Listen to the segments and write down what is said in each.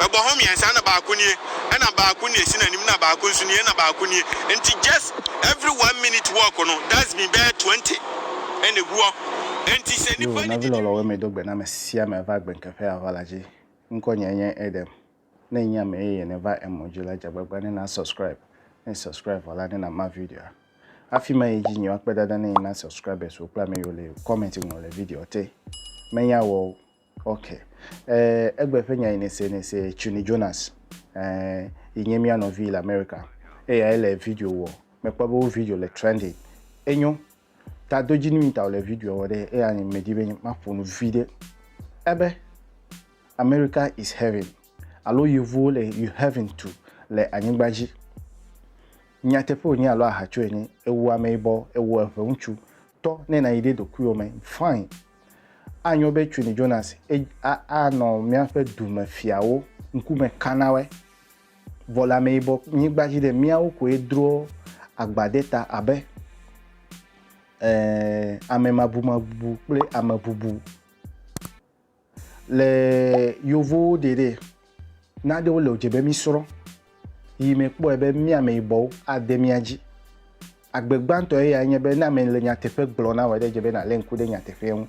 Egbɔ hɔn miɛn sa na ba ku nie, ena ba ku nie sina nim na ba ku nsu nie, ena ba ku nie. Enti just every one minute walk no that's been bɛɛ 20 ene guɔ. Enti se Yo, nipa ni nɔvi didi. lɔlɔwo me do gbe na ame sia ame va gbenkeƒe ava la dzi. Ŋkɔ nyɛ nye Edem. Ne enye ame yeye ne va emɔ dzi la dze agbagba ne na subscribe. Ne subscribe vɔ la ne na ma videoa. Afi ma yi dzi nyi woakpe dada ne yi na subscribers wo kple ame yiwo le comment ŋlɔ le videoa te. Menya wɔ o. Ok, eh, egbe ƒe nya yi nese nese Chuni Jonas, eh, yi nye mía nɔvi le America. Eya ele video wɔ, mekpɔ be wo video le trending. Enyo, ta do dzi nui ta wòle video wɔ ɖe, eya nye medi be maƒo nu vi ɖe. Ebe, America is heaven, alo yevuwo le you heaven tu le anyigba dzi. Nyateƒe wònye alo ahatso ene, ewu ameyibɔ, ewu eŋeŋutsu, tɔ ne nayi ɖe dokuiwò me, fine. Anyo be Cuni Jonas anɔ míaƒe dumefiawo ŋkume ka na woe? Vɔ le ameyibɔ nyigba dzi ɖe, míawo koe drɔ agba ɖe ta abe amemabumabu kple amebubu. Le Yevowo ɖe ɖe, nanewo le wòdze be mísrɔ̃ yi me kpɔe be mí ameyibɔwo ade mía dzi. Agbe gbãtɔ eyae nye be ne ame le nyateƒe gblɔm na wò eɖe dze be nàlé ŋku ɖe nyateƒea ŋu.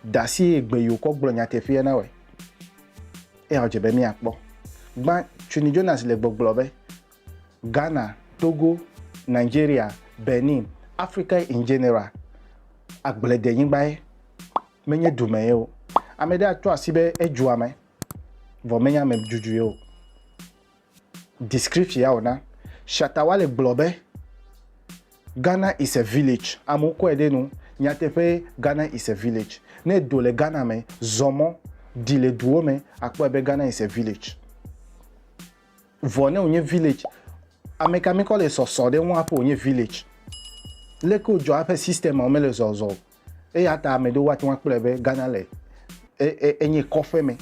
Da si eye gbe yeokɔ gblɔ nyateƒea na wòe eya wòdze be míakpɔ. Gbã, Chuni Jonas le gbɔgblɔ be, Ghana, Togo, Nigeria, Benin, Africa in general, agbledenyigbae, menye dumee o. Ame ɖe atrɔ asi be edzua me, vɔ menye amedudue o. Description ya wòna, Shatta Wale gblɔ be, Ghana is a village, amewo kɔe ɖe nu, nyateƒee, Ghana is a village. Ne èdo le Ghana me, zɔ mɔ, ɖi le duwo me, àkpɔe be Ghana is a village. Vɔ ne wònye village, ameka mikɔ le sɔsɔ ɖe eŋu hafi wònye village? Leke wodzɔa eƒe systemawo mele zɔzɔ o. Eyata ame ɖewo woate ŋu akpɔe be Ghana le, e, e, enye kɔƒeme.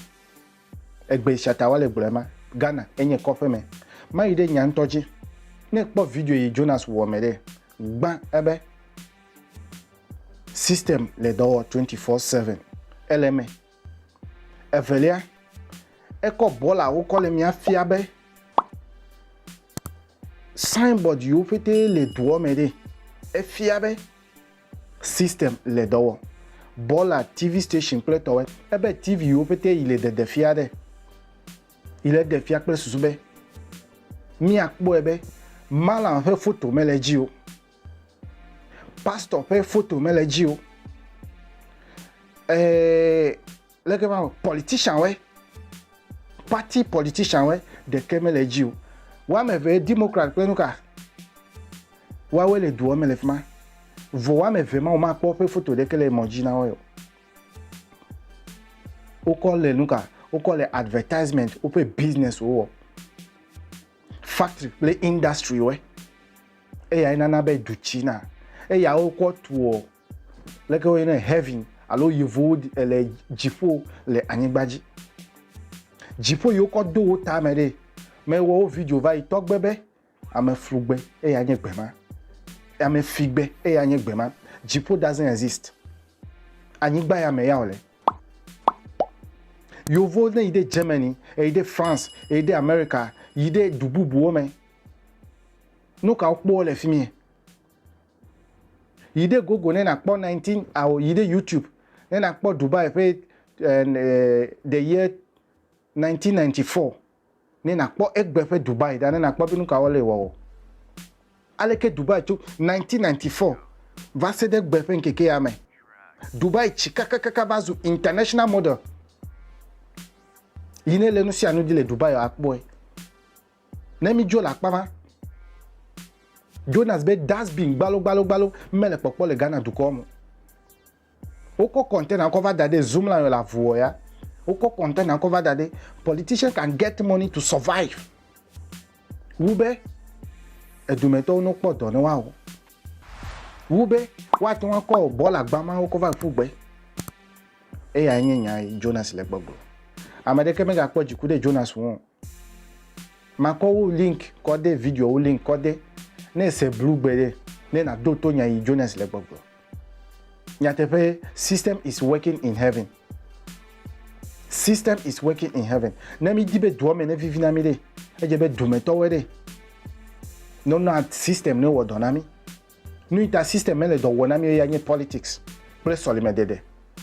Egbe sia ta wole gblɔe ma. Ghana enye kɔƒe me. Mayi ɖe nya ŋutɔ dzi. Ne ekpɔ video yi Jonas wɔ me ɖe, gbã ebe system le dɔ wɔ 24/7. Ele eme. Evelia, ekɔ bɔla wokɔ le mia fia be signboard yiwo ƒete le doɔ me ɖe. Efia be. System le dɔ wɔ. Bɔla TV station kple tɔwɛ. Ebe TV yiwo pete yi le dede fia ɖe. Yi le ɖe fia kple susu be mia kpɔe be Malam ƒe foto me le dzi o. Pastor ƒe foto me le dzi o. Ee, Leke ma me politician we, party politician we ɖeke me le dzi o. Woame ve democrat kple nuka woawe le duɔ me le fima. Vɔ woame ve ma wo ma kpɔ woƒe foto ɖeke le mɔ dzi na woe o. Wokɔ le nuka? Wokɔ le advertisement woƒe business wo wɔ. Factory kple industry we. Eya ye nana be du tsi na. Eya wokɔ tuɔ Leke woyɔnɛ? Heaven alo yevuwo le dziƒo le anyigba dzi. Dziƒo yi wokɔ do wo tame ɖe, mewɔ wo video va yi tɔgbe be ame flugbe eye anye gbe ma. Ame figbe eye anye gbe ma. Dziƒo doesn't exist. Anyigba ya me ya wòle. Yevuwo ne yi ɖe Germany, eyi ɖe France, eyi ɖe America, yi ɖe du bubuwo me, nu ka wokpɔ le fi mie? Yi ɖe Google ne nàkpɔ 19 ao yi ɖe YouTube ne nàkpɔ Dubai ƒe the year 1994 ne nàkpɔ egbe ƒe Dubai ɖa ne nàkpɔ be nu kawo le wɔwɔ. Aleke Dubai tso 1994 va se ɖe gbe ƒe ŋkeke ya me. Dubai tsi kakakaka va zu international model. Yi ne le nu sia nu dzi le Dubai akpɔe. Ne mídzo le akpa ma, Jonas be dustbin gbalogbalogbalo mele kpɔkpɔ le Ghana dukɔa me o. Wokɔ container kɔ va da ɖe Zumla yɔ le avuwɔ ya. Wokɔ container kɔ va da ɖe politician can get money to survive wu be edumetɔwo no kpɔ dɔ ne woawɔ. Wu be woate ŋu akɔ bɔl agba mawo kɔ va ƒu gbe. Eyae nye nya yi Jonas le gbɔgblɔ. Ame ɖeke megakpɔ dziku ɖe Jonas ŋu o. Makɔ wo link kɔ de video wo link kɔ de ne ese blu gbe ɖe ne na do to nya yi Jonas le gbɔgblɔ. Nyateƒe system is working in heaven. System is working in heaven. Ne mi di be doa me ne vivi na mi ɖe, edze be dome tɔwɔe ɖe. Ne na system ne wɔ dɔ na mi. Nu ita system me le dɔ wɔ na mi ya nye politics kple sɔlime dede.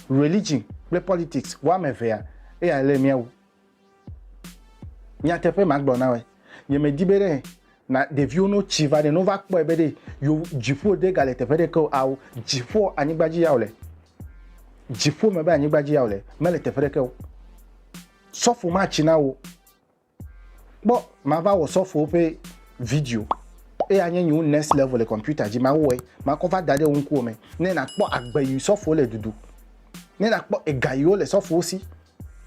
Religion kple politics wa me vea eya le miawu. Nyateƒe magblɔ na wòe, nyemedi be ɖe na ɖeviwo no tsi va ne no va kpɔe be ɖe yo dziƒo de gale teƒe ɖeke o ao dziƒo anyigba dzi yao le dziƒo me be anyigba dzi yao le mele teƒe ɖeke o sɔfo ma tsi na wo kpɔ ma va wɔ sɔfo ƒe video eye anye nyiwo next level le computer dzi ma wɔe ma kɔ va da ɖe wo ŋkuwo me ne na kpɔ agbe yi sɔfo le dudu ne na kpɔ ega yiwo le sɔfo si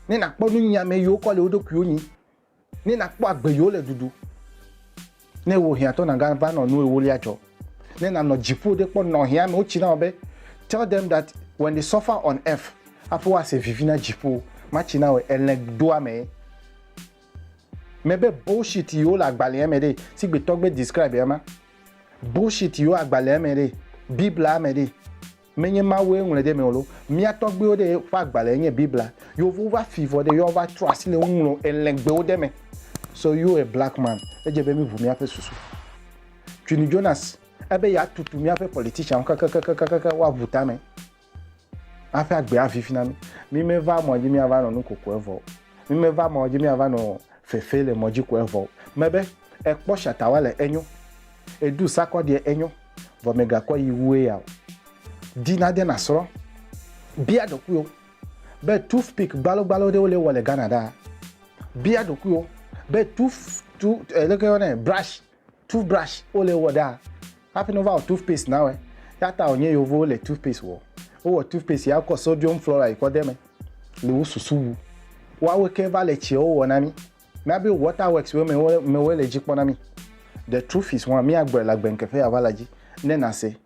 Ne nakpɔ nunyui ame yiwo kɔ le wo ɖokuiwo nyi, ne nakpɔ agbe yiwo le ɖuɖu. Ne wò hiãtɔ nàga va nɔ nu ewolia dzɔ, ne nanɔ dziƒo ɖe kpɔ nɔ hiã amewo tsi na wò be, tell them that when they suffer on earth hafi woase vivi na dziƒo matsi na wòe elẽ doa mee. Mebe bullshit yiwo le agbalẽa me ɖee, sigbetɔ gbe describe ema. Bullshit yiwo agbalẽa me ɖee, Biblia me ɖee. Menye Mawue ŋlɔe ɖe eme o loo. Mía tɔgbuiwo ɖe ƒe agbalẽe nye Biblia. Yewovo va fii vɔ ɖe yewoava trɔ asi le nuŋlɔ elɛ̃gbewo ɖe me. So you a black man, edze be míʋu míaƒe susu. Quinny Jonas, ebe yeatutu míaƒe politicianwo kakakakakaka woaʋu tame hafi agbe avivi na mí. Mímeva mɔ dzi míava nɔ nu kokoe vɔ o. Mímeva mɔ dzi míava nɔ fefe le mɔ dzi koe vɔ o. Mebe, Èkpɔ shatawa le enyo. Èɖu sakɔɖie enyo. vɔ mègakɔ yi wue ya o. Di nade nàsrɔ̃. Bia ɖokuiwò be toothpick gbalogbalo ɖewo le wɔ le Ghana ɖaa? Bia ɖokuiwò be tooth tu leke yɔnɛ brush toothbrush wo le wɔ ɖaa? Hafi ne wova wɔ toothpaste na wɔe. Ya ta wònye yevuwo le toothpaste wɔ. Wowɔ toothpaste ya wokɔ sodium fluoride kɔ de eme. Le wo susu wu. Woawo ke va le tsiawo wɔ na mí. Míabe Waterworks-wo me mewoe le dzi kpɔ na mí. The Truth-is hã, míagblɔe le agbeŋkeƒe aʋa la dzi ne nàse.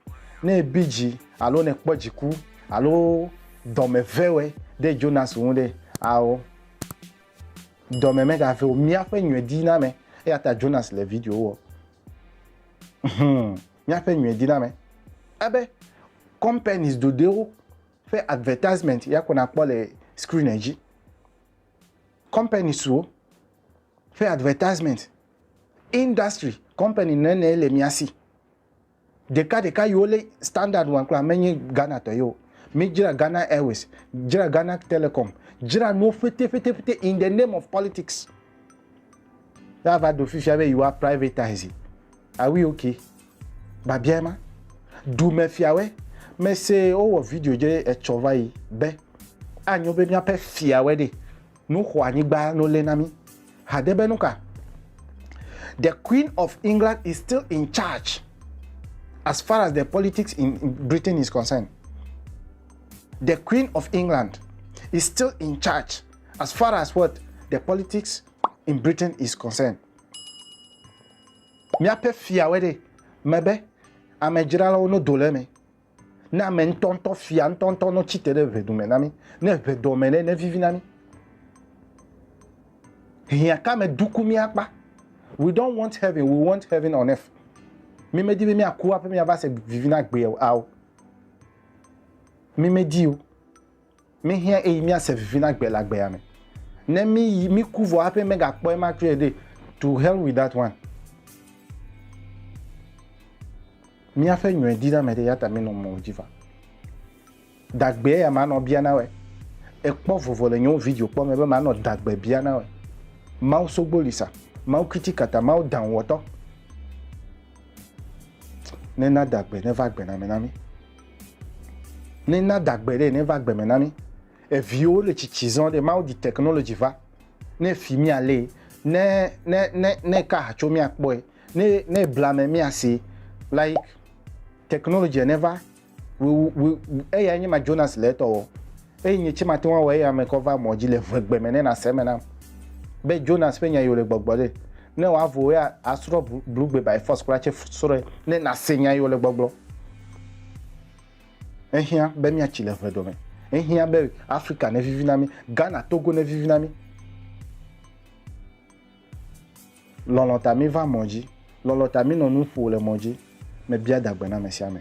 Ne èbi dzi alo nèkpɔ dziku alo dɔmevewɔe ɖe Jonas ŋu ɖe, ao, dɔme megave o. Míaƒe nyuiɖiname. Eya ta Jonas le video wɔ. Hum, míaƒe nyuiɖiname. Abe companies ɖoɖoewo ƒe advertisement ya ko nàkpɔ le screen dzi. companies wo ƒe advertisement, industry company nene le mia si. Ɖeka ɖeka yiwo le standard wɔm kura menye Ghana tɔ ye o. Mi dzra Ghana Airways, dzra Ghana Telecom, dzra nuwo fete fete fete in the name of politics. Ya va do fifia be yiwa privatize. Are we okay? Babiae ma, Dumefiawoe mese wowɔ video dze etsɔ va yi be, Anyo be míaƒe fiawoe ɖe nu xɔ anyigba no lé na mí. Hade be nuka? The Queen of England is still in charge as far as the politics in Britain is concerned. The Queen of England is still in charge as far as what the politics in Britain is concerned. Míaƒe Fia wɔe ɖe me be ame dzralawo no do le eme. Ne ame ŋutɔŋutɔ, fia ŋutɔŋutɔ no tsi te ɖe ʋedu me na mí, ne ʋe dɔ me ɖe ne vivi na mí. Hiã ka me duku mía kpa? We don't want heaven, we want heaven on earth. Mi medi be mía ku aƒe mía va se vivi na gbe ao. Mi medi o. Míhiã ɣeyiɣi míase vivi na gbe le agbea me. Ne míyi, míku vɔ hafi megakpɔ ema trɔe ɖe, to hell with that one. Míaƒe nyɔe di na ame ɖe, ya ta mínɔ mɔ dzi va. Dagbe ya manɔ bia na wɛ. Ekpɔ vovo le nyewo video kpɔ me be manɔ dagbe bia na wɛ. Mawu sogbo li sa, Mawu kitikata, Mawu danwɔtɔ. Nena dagbe neva gbe na me na mí. Ne na da gbe ɖe ne va gbe me na mi. Eviwo le tsitsi zɔn ɖe Mawu di technology va ne fi mia le ne ne ne ne ka hatso mia kpɔe ne ne bla me mia se like technology ne va we we eya nye ma Jonas le etɔ wɔ eye nye tse ma te wɔ eya me kɔ va mɔ dzi le ʋegbe me ne na se me na be Jonas ƒe nya yi le gbɔgbɔ ɖe Ne wòavu wò ya, asrɔ̃ blugbe by force kura tse srɔ̃e ne nàse nya yi wòle gbɔgblɔ. Ehiã be míatsi le ʋeɖɔ me. Ehiã be Afrika nevivi na mí, Ghana, Togo nevivi na mí. Lɔlɔ̃ ta míva mɔ dzi. Lɔlɔ̃ ta mínɔ nu ƒo le mɔ dzi. Mebia dagbe na ame sia ame.